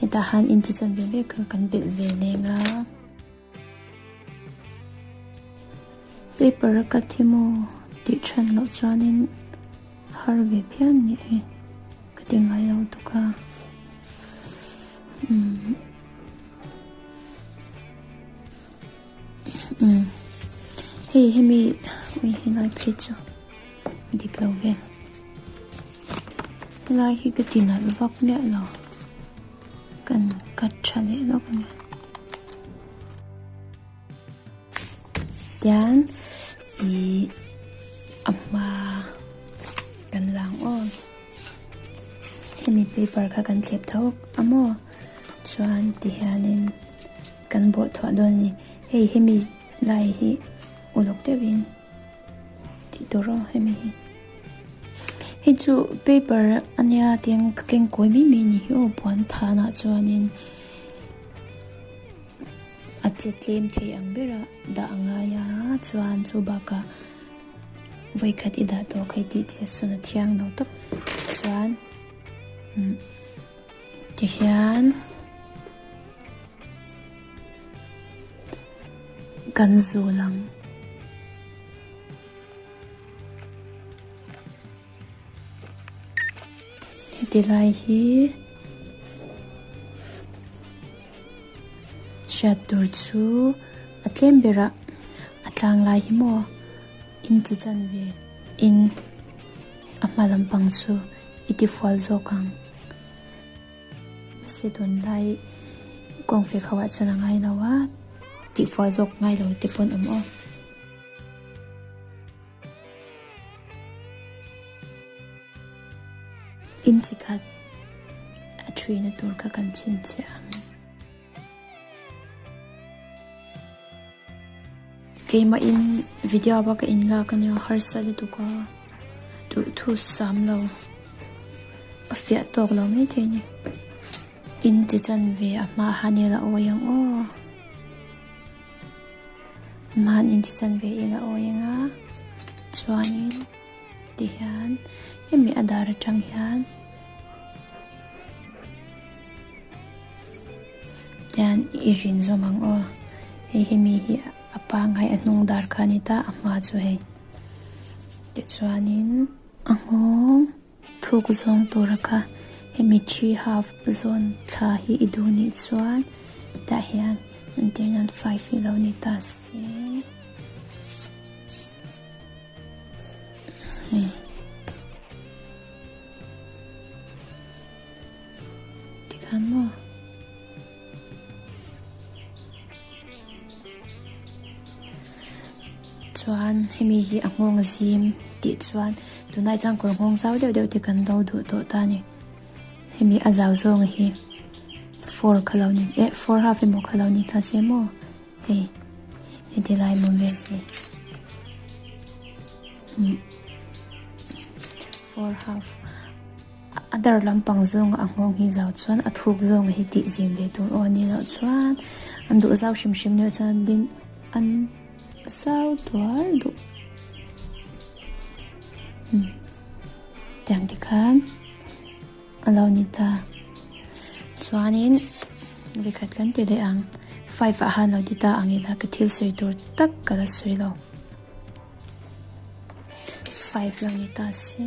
hetah han in chi chan ve ve kha kan belh ve leng a paper a ka thim aw tih than loh chuanin har ve phian nih hi ka ti ngai lo tuk a umm. umm hei hemi ui helai phei chu dik lo vel helai hi ka tinalh vak miah lo kan cut tha leh lawk a ni tian i a hma kan lang aw Hemi paper kha kan thlep tho a maw chuan ti hianin kan bawh thuah dawn a ni. Hei hemi lai hi uluk deuhin tih tur aw hemi hi. Hei chu paper a nia tiang ka keng kawi mai mai a ni hi aw puan thanah chuanin a che tlem thei ang bera dah a ngai a chuan chu bakah. Vawikhat i dah tawh kha tih chiah sawn a thiang lo tawp chuan tihian kan zul ang. Heti lai hi hriat tur chu a tlem ber a, a tlang lai hi maw in chi chan ve in a hma lam pang chu i ti fual zawk ang. Se tun lai kawng fek ho ah chuan a ngai lo a, tih fual zawk ngai lo te pawh awm aw. Inchi khat a ṭhi na tur kha kan chhin chhiah ang. Keimah in Vidyaba ka in lak a nia, harsa lutuk a duh thu sam lo, a fiah tawk lo mai thei ni. Inchi chan ve a hma ah hian ila awi ang aw. Mahni chi chanve in a awi eng a, chuanin ti hian hemi a dar atang hian hian i rin zawm ang aw, hei hemi hi a pangngai a hnung dar kha a ni ta, a hma chu hei. Tichuanin a nghawng. Thuk zawng tura kha hemi three half zawn thla hi i duh nih chuan tah hian an tir nan fai fih lo ni ta si. Tikhan maw? Chuan hemi hi a nghawng a zim tih chuan tunah chuan kawr nghawng zau deuh deuh te kan lo duh tawh ta a ni. Hemi a zau zawng a hi four kha lo ni eh four half emaw kha lo ni ta se maw hei he ti lai maw vel te four half. A dar lampang zawnga a nghawng hi zau chuan a thuk zawnga hi tih zim ve tur aw ni loh chuan an duh zau hrim hrim leh chuan an din an zau tuar duh hmm tiang te khan a lo ni ta chuanin ri khat kan ti leh ang five ah han lo ti ta ang ila ka thil sawi tur tak ka la sawi lo five lo ni ta se.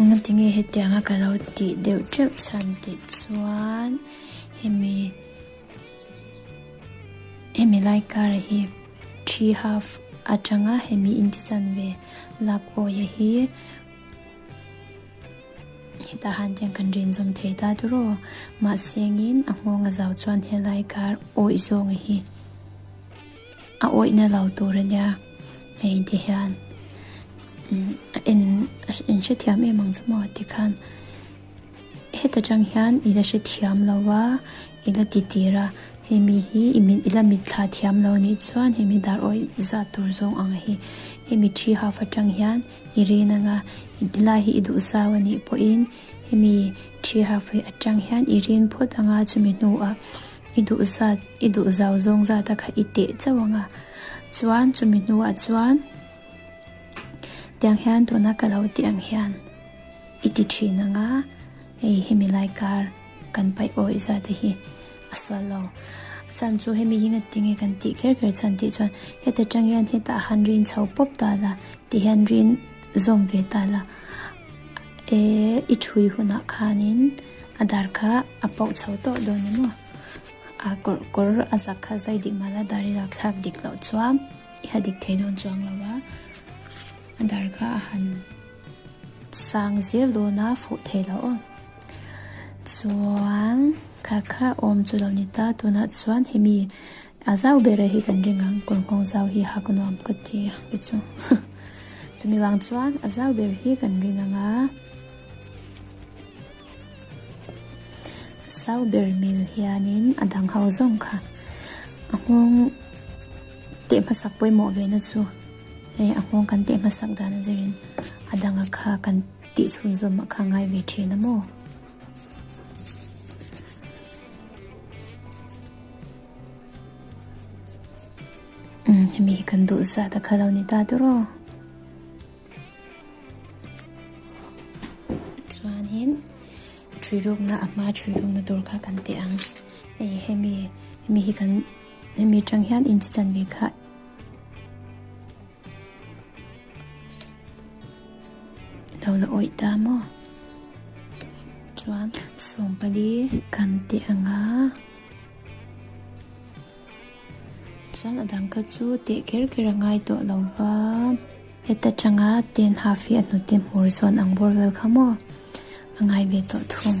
Awma tinge hetianga ka lo tih deuh teuh chhan tih chuan hemi hemi lai kara hi thi half atanga hemi in chi chan ve lap awia hi hetah han chian kan rinzawm thei ta tur aw mahse angin a nghawng a zau chuan he lai kar awih zawnga hi A awihna lo tur a nia. Hei inti hian a en in hrethiam em ang chu maw ti khan heta tang hian ila hrethiam lo a ila ti tir a hemi hi i min ila mit thla thiam lo nih chuan hemi dar awih zat tur zawng ang hi hemi thi haf atang hian i rin anga i ti lai hi i duh zau anih pawhin-- Hemi thi hahfai atang hian i rin phawt ang a, chumi hnuah i duhzat, i duhzau zawng zata kha i teh chauh ang a. Chuan chumi hnuah chuan tiang hian tuna ka lo tih ang hian i ti thin ang a, hei hemi laikar kan paih awih zate hi a sual lo. A chhan chu hemi hi nghet ti nge kan tih kher kher chhan tih chuan heta tang hian heta han rin chho pawp ta la, ti hian rin zawm ve ta la. E, i thui hunah khanin a dar kha a poh chho tawh dawn emaw? A kawr kawr a zak kha zai dik mala dar i lak thlak dik loh chuang i ha dik thei dawn chuang lo va, a dar kha a han sang zel dawn a, fuh thei loh aw. Chuan kha kha awm chu lo ni ta, tunah chuan hemi. A zau ber hi kan ring ang kawr nghawng zau hi ha ka nuam ka ti a i chu chumi vang chuan a zau ber hi kan ring anga zau ber mil hianin a dang ho zawng kha a nghawng teh hmasak pawimawh ve na chu e a nghawng kan teh hmasak dan zerin a dang a kha kan tih chhun zawm a kha ngai ve thin a maw mi kan duh zat a kha lo ni ta tur aw chuan hin thui ruk na a hma thui ruk na tur kha kan ti ang e hemi hemi hi kan hemi tang hian in chi chan ve kha lo la awih ta maw chuan sawmpali kan tih ang a chuan a dang kha chu teh ker ker a ngai tawh lo va heta tanga ten half hi a hnute hmur zawn ang bawr vel kha maw a ngai ve tawh thung.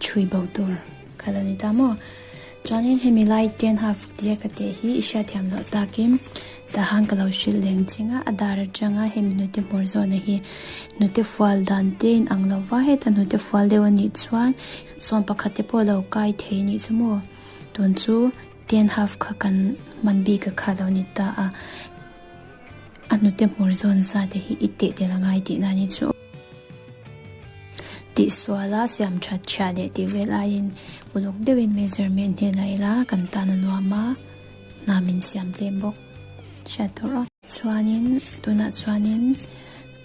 Chhui bo tur kha lo ni ta maw? Chuanin hemi lai ten half tia ka teh hi i hriatthiam loh takin tahan ka lo hrilh leng ching a, a dar atanga hemi nute hmawr zawnna hi nute fual dan te in ang lo va, heta nute fual deuh a nih chuan sawn pakhat te pawh lo kai thei nih chu maw? Tun chu ten half kha kan hman bik a kha lo ni ta a, a nute hmawr zawn zate hi i teh tel a ngai tihna ni chu. Tihsuala siam that chhia leh tih vel aiin uluk deuhin measurement hi la ila kan tan a nuam a, hna min siam tlem bawk hriat tur a. Chuanin tunah chuanin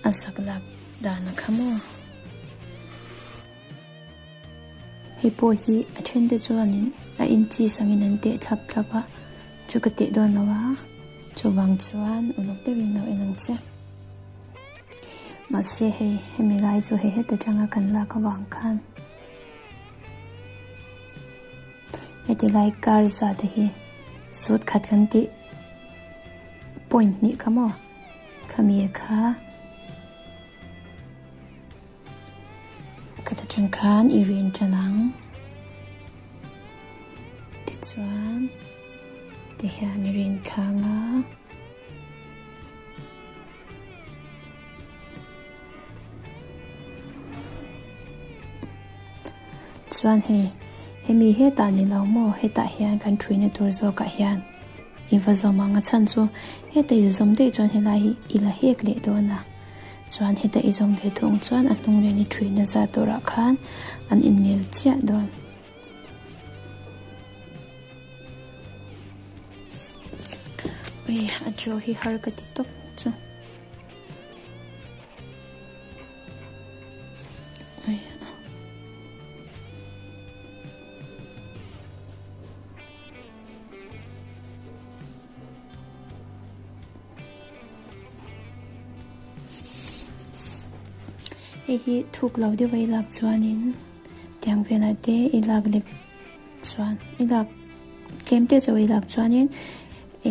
a sak lak dan a kham aw. Hei pawh hi a thente chuanin a inchis angin an teh thlap thlap a, chu ka teh dawn lo a, chuvang chuan uluk deuhin lo en ang che. Mahse hei hemi lai chu hei heta tanga kan lak avang khan heti lai kar zata hi sut khat kan tih point hnih kha maw? Khami e kha ka ta tang khan i rian tan ang. Tichuan ti hian i rian thlang a. Chuan hei, hemi hetah ni lo maw? Hetah hian kan ṭhuina tur zawkah hian i va zawm ang a chhan chu. Heta i zawm daih chuan helai hi i la hek leh dawn a. Chuan heta i zawm ve thung chuan a hnung nen i ṭhuina za turah khan an inmel chiah dawn. Ui, a jo hi har ka ti tawp chu. Ui. Hei hi thuk lo deuh vei lak chuan in. Tiang vel a te i lak lep chuan, i lak tlem teh chu i lak chuanin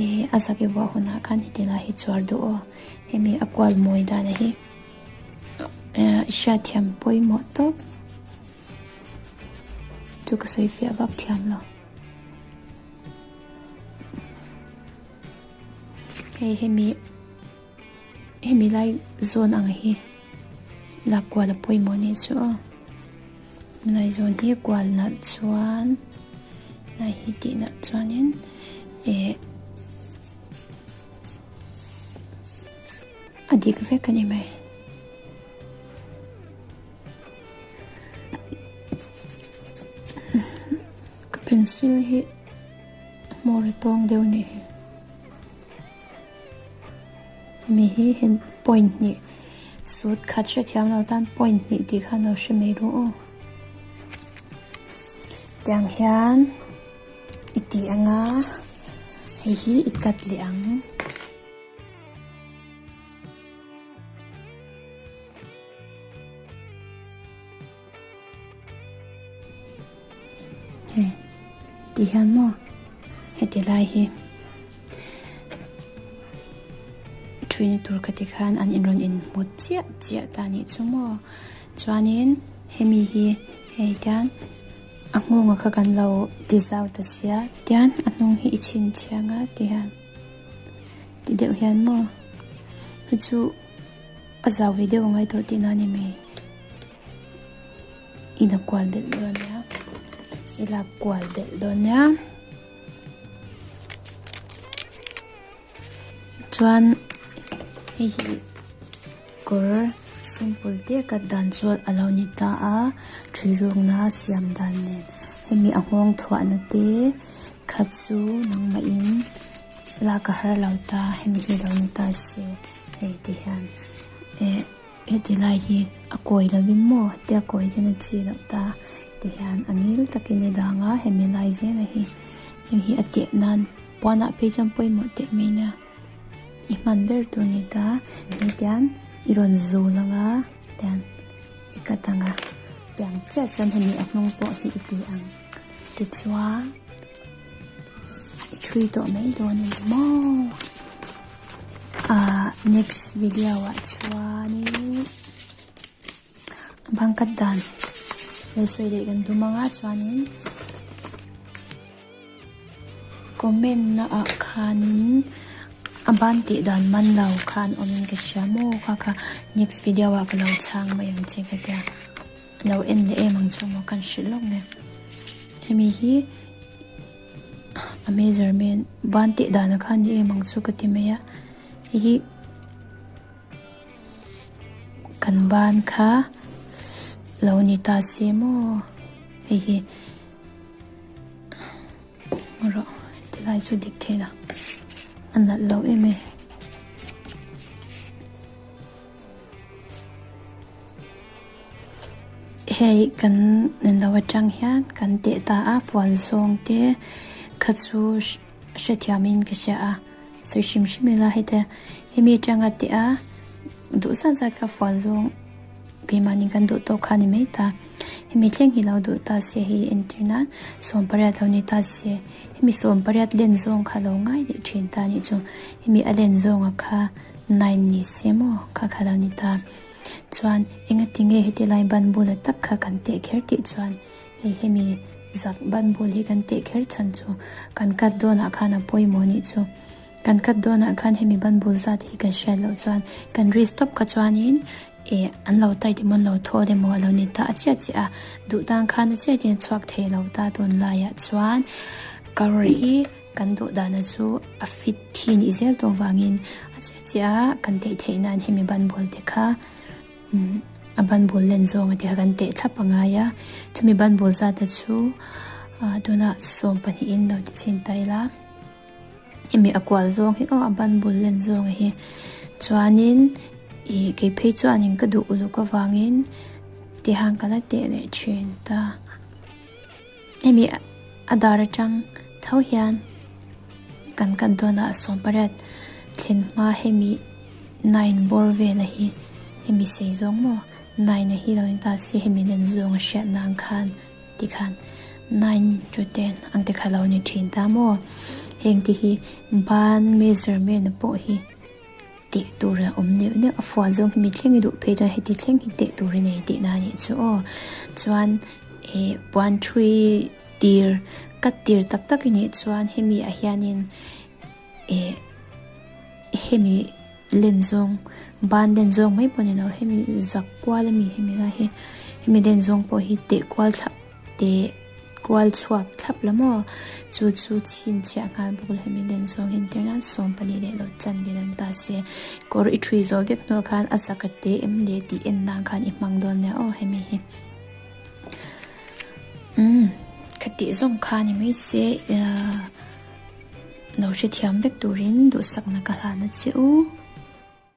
i a zak i vuah hunah khan heti lah hi chuar duh aw, hemi a kual mawi dan a hi. I hriatthiam pawimawh tawp, chu ka sawi fiah vak thiam lo. Hei hemi. Hemi lai zawn ang hi la kual a pawimawh a nih chu aw. Lai zawn hi kual nalh chuan lai hi tih nalh chuanin eh a dik vek a ni mai. Ka pencil hi hmawr a tawng deuh ni. mi hi hin point hnih sut khat hre thiam lo tan point hnih tih khan lo hre mai rawh aw tiang hian i tih ang a hei hi i cut leh ang He ti hian maw heti lai hi Trini tur ka ti khan an in rawn in mut chiah chiah ta ni chu maw chuanin hemi hi hei tian a ngunga kha kan lo ti zau ta sia tian a hnung hi i chhin chiang a ti hian ti deuh hian maw chu A zau ve deuh a ngai tawh tihna ni mai. Ina kual belh dawn nia, ila kual belh dawn nia. Chuan hei hi kawr simple te ka dan chuan a lo ni ta a, ṭhi rukna siam dan nen hemi a nghawng thuahna te. Kha chu nangmahin lak a har lo ta, hemi hi lo ni ta si hei ti hian. Eh, heti lai hi a kawi lovin maw? Heti a kawi hian a chhi loh ta ti hian a ngil takin i dang a, hemi lai zela hi hemi hi a teh nan puanah phei chuan pawimawh teh mai nia. I hman ber tur ni ta, hetian i rawn zu lang a, tian i cut ang a. Tiang chiah chuan hemi a hnung pawh hi i ti ang. Tichuan i thui tawh mai dawn em maw? Ah, next video ah chuan i bang cut dan lo sawi leh kan dum ang a chuan in. Comment na ah khan in a ban tih dan man lo kha an awm in ka hria maw kha kha next video ah ka lo chhang mai ang che ka tia lo en leh em ang chu maw ka hrilh lawk nia hemi hi a measurement ban tih dan a kha ni em ang chu ka ti mai a hei hi kan ban kha lo ni ta se maw hei hi Ngaw rawh, ti lai chu dik thin a, a nalh lo em e. Hei kan nen lo atang hian kan teh ta a fual zawng te kha chu. Hrethiam in ka hria a, sawi hrim hrim ila hete he mi atanga teh a, duh zat zat kha fual zawng keimahni kan duh tawk kha a ni mai ta. Hemi thleng hi lo duh ta sia hi entir nan sawm pariat lo nei ta sia. Hemi sawm pariat len zawng kha lo ngai leh thin ta nih chu, hemi a len zawng a kha nine ni sia maw kha kha lo ni ta. Chuan engatinge heti lai banbula tak kha kan teh kher tih chuan, Hei hemi zak Bible hi kan teh kher chhan chu kan cut dawnah khan a pawimawh anih chu. Kan cut dawnah khan hemi Bible zat hi kan hriat loh chuan kan ri stop kha chuanin eh an lo taiti maw an lo thawt emaw a lo ni ta a chiah chiah a. Duh tan khan a chiahin a chhuak thei lo ta dawn laiah chuan ka rawr hi kan dawh dana chu a fit thi nih zel tawh vangin a chiah chiah a kan teh theihnain hemi Bible te kha A ban bul len zawnga te kha kan teh thlap a ngai a, chumi ban bul zate chu tunah sawm pahnihin lo ti chin ta ila, hemi a kual zawng hi aw a ban bul len zawnga hi. Chuanin ih kei phei chuan in ka duh uluk avangin tihang ka la teh leh thin ta. Hemi a dar atang tho hian kan kat dawn a, a sawm pariat thlen hma hemi nine bawr vela hi hemi sei zawng maw nine a hi lo in ta si hemi nen zawng a hriat nan khan ti khan nine to ten ang te kha lo ni thin ta maw heng te hi ban measurement pawh hi teh tur a awm neuh neuh a fual zawng hi mi thleng i duh phei chuan heti thleng hi teh tur i nei teh na anih chu aw chuan he puan thui tir ka tir tak tak i nih chuan hemi ah hianin eh hemi len zawng ban len zawng mai pawh ni lo hemi zak kual a mi hemi lai hi hemi len zawng pawh hi teh kual thla-- teh kual chhuak thlap la maw? Chu chu chin chiah nghal bawk la, min en zawng in tir nan sawm pahnih leh lo chanve lam ta se. Kawr i ṭhui zawh vek hnuah khan a zaka te em le tih en dan khan i hmang dawn nia aw hemi hi umm ka tih zawng kha ni mai se lo hrethiam vek turin duhsakna ka hlan a che u.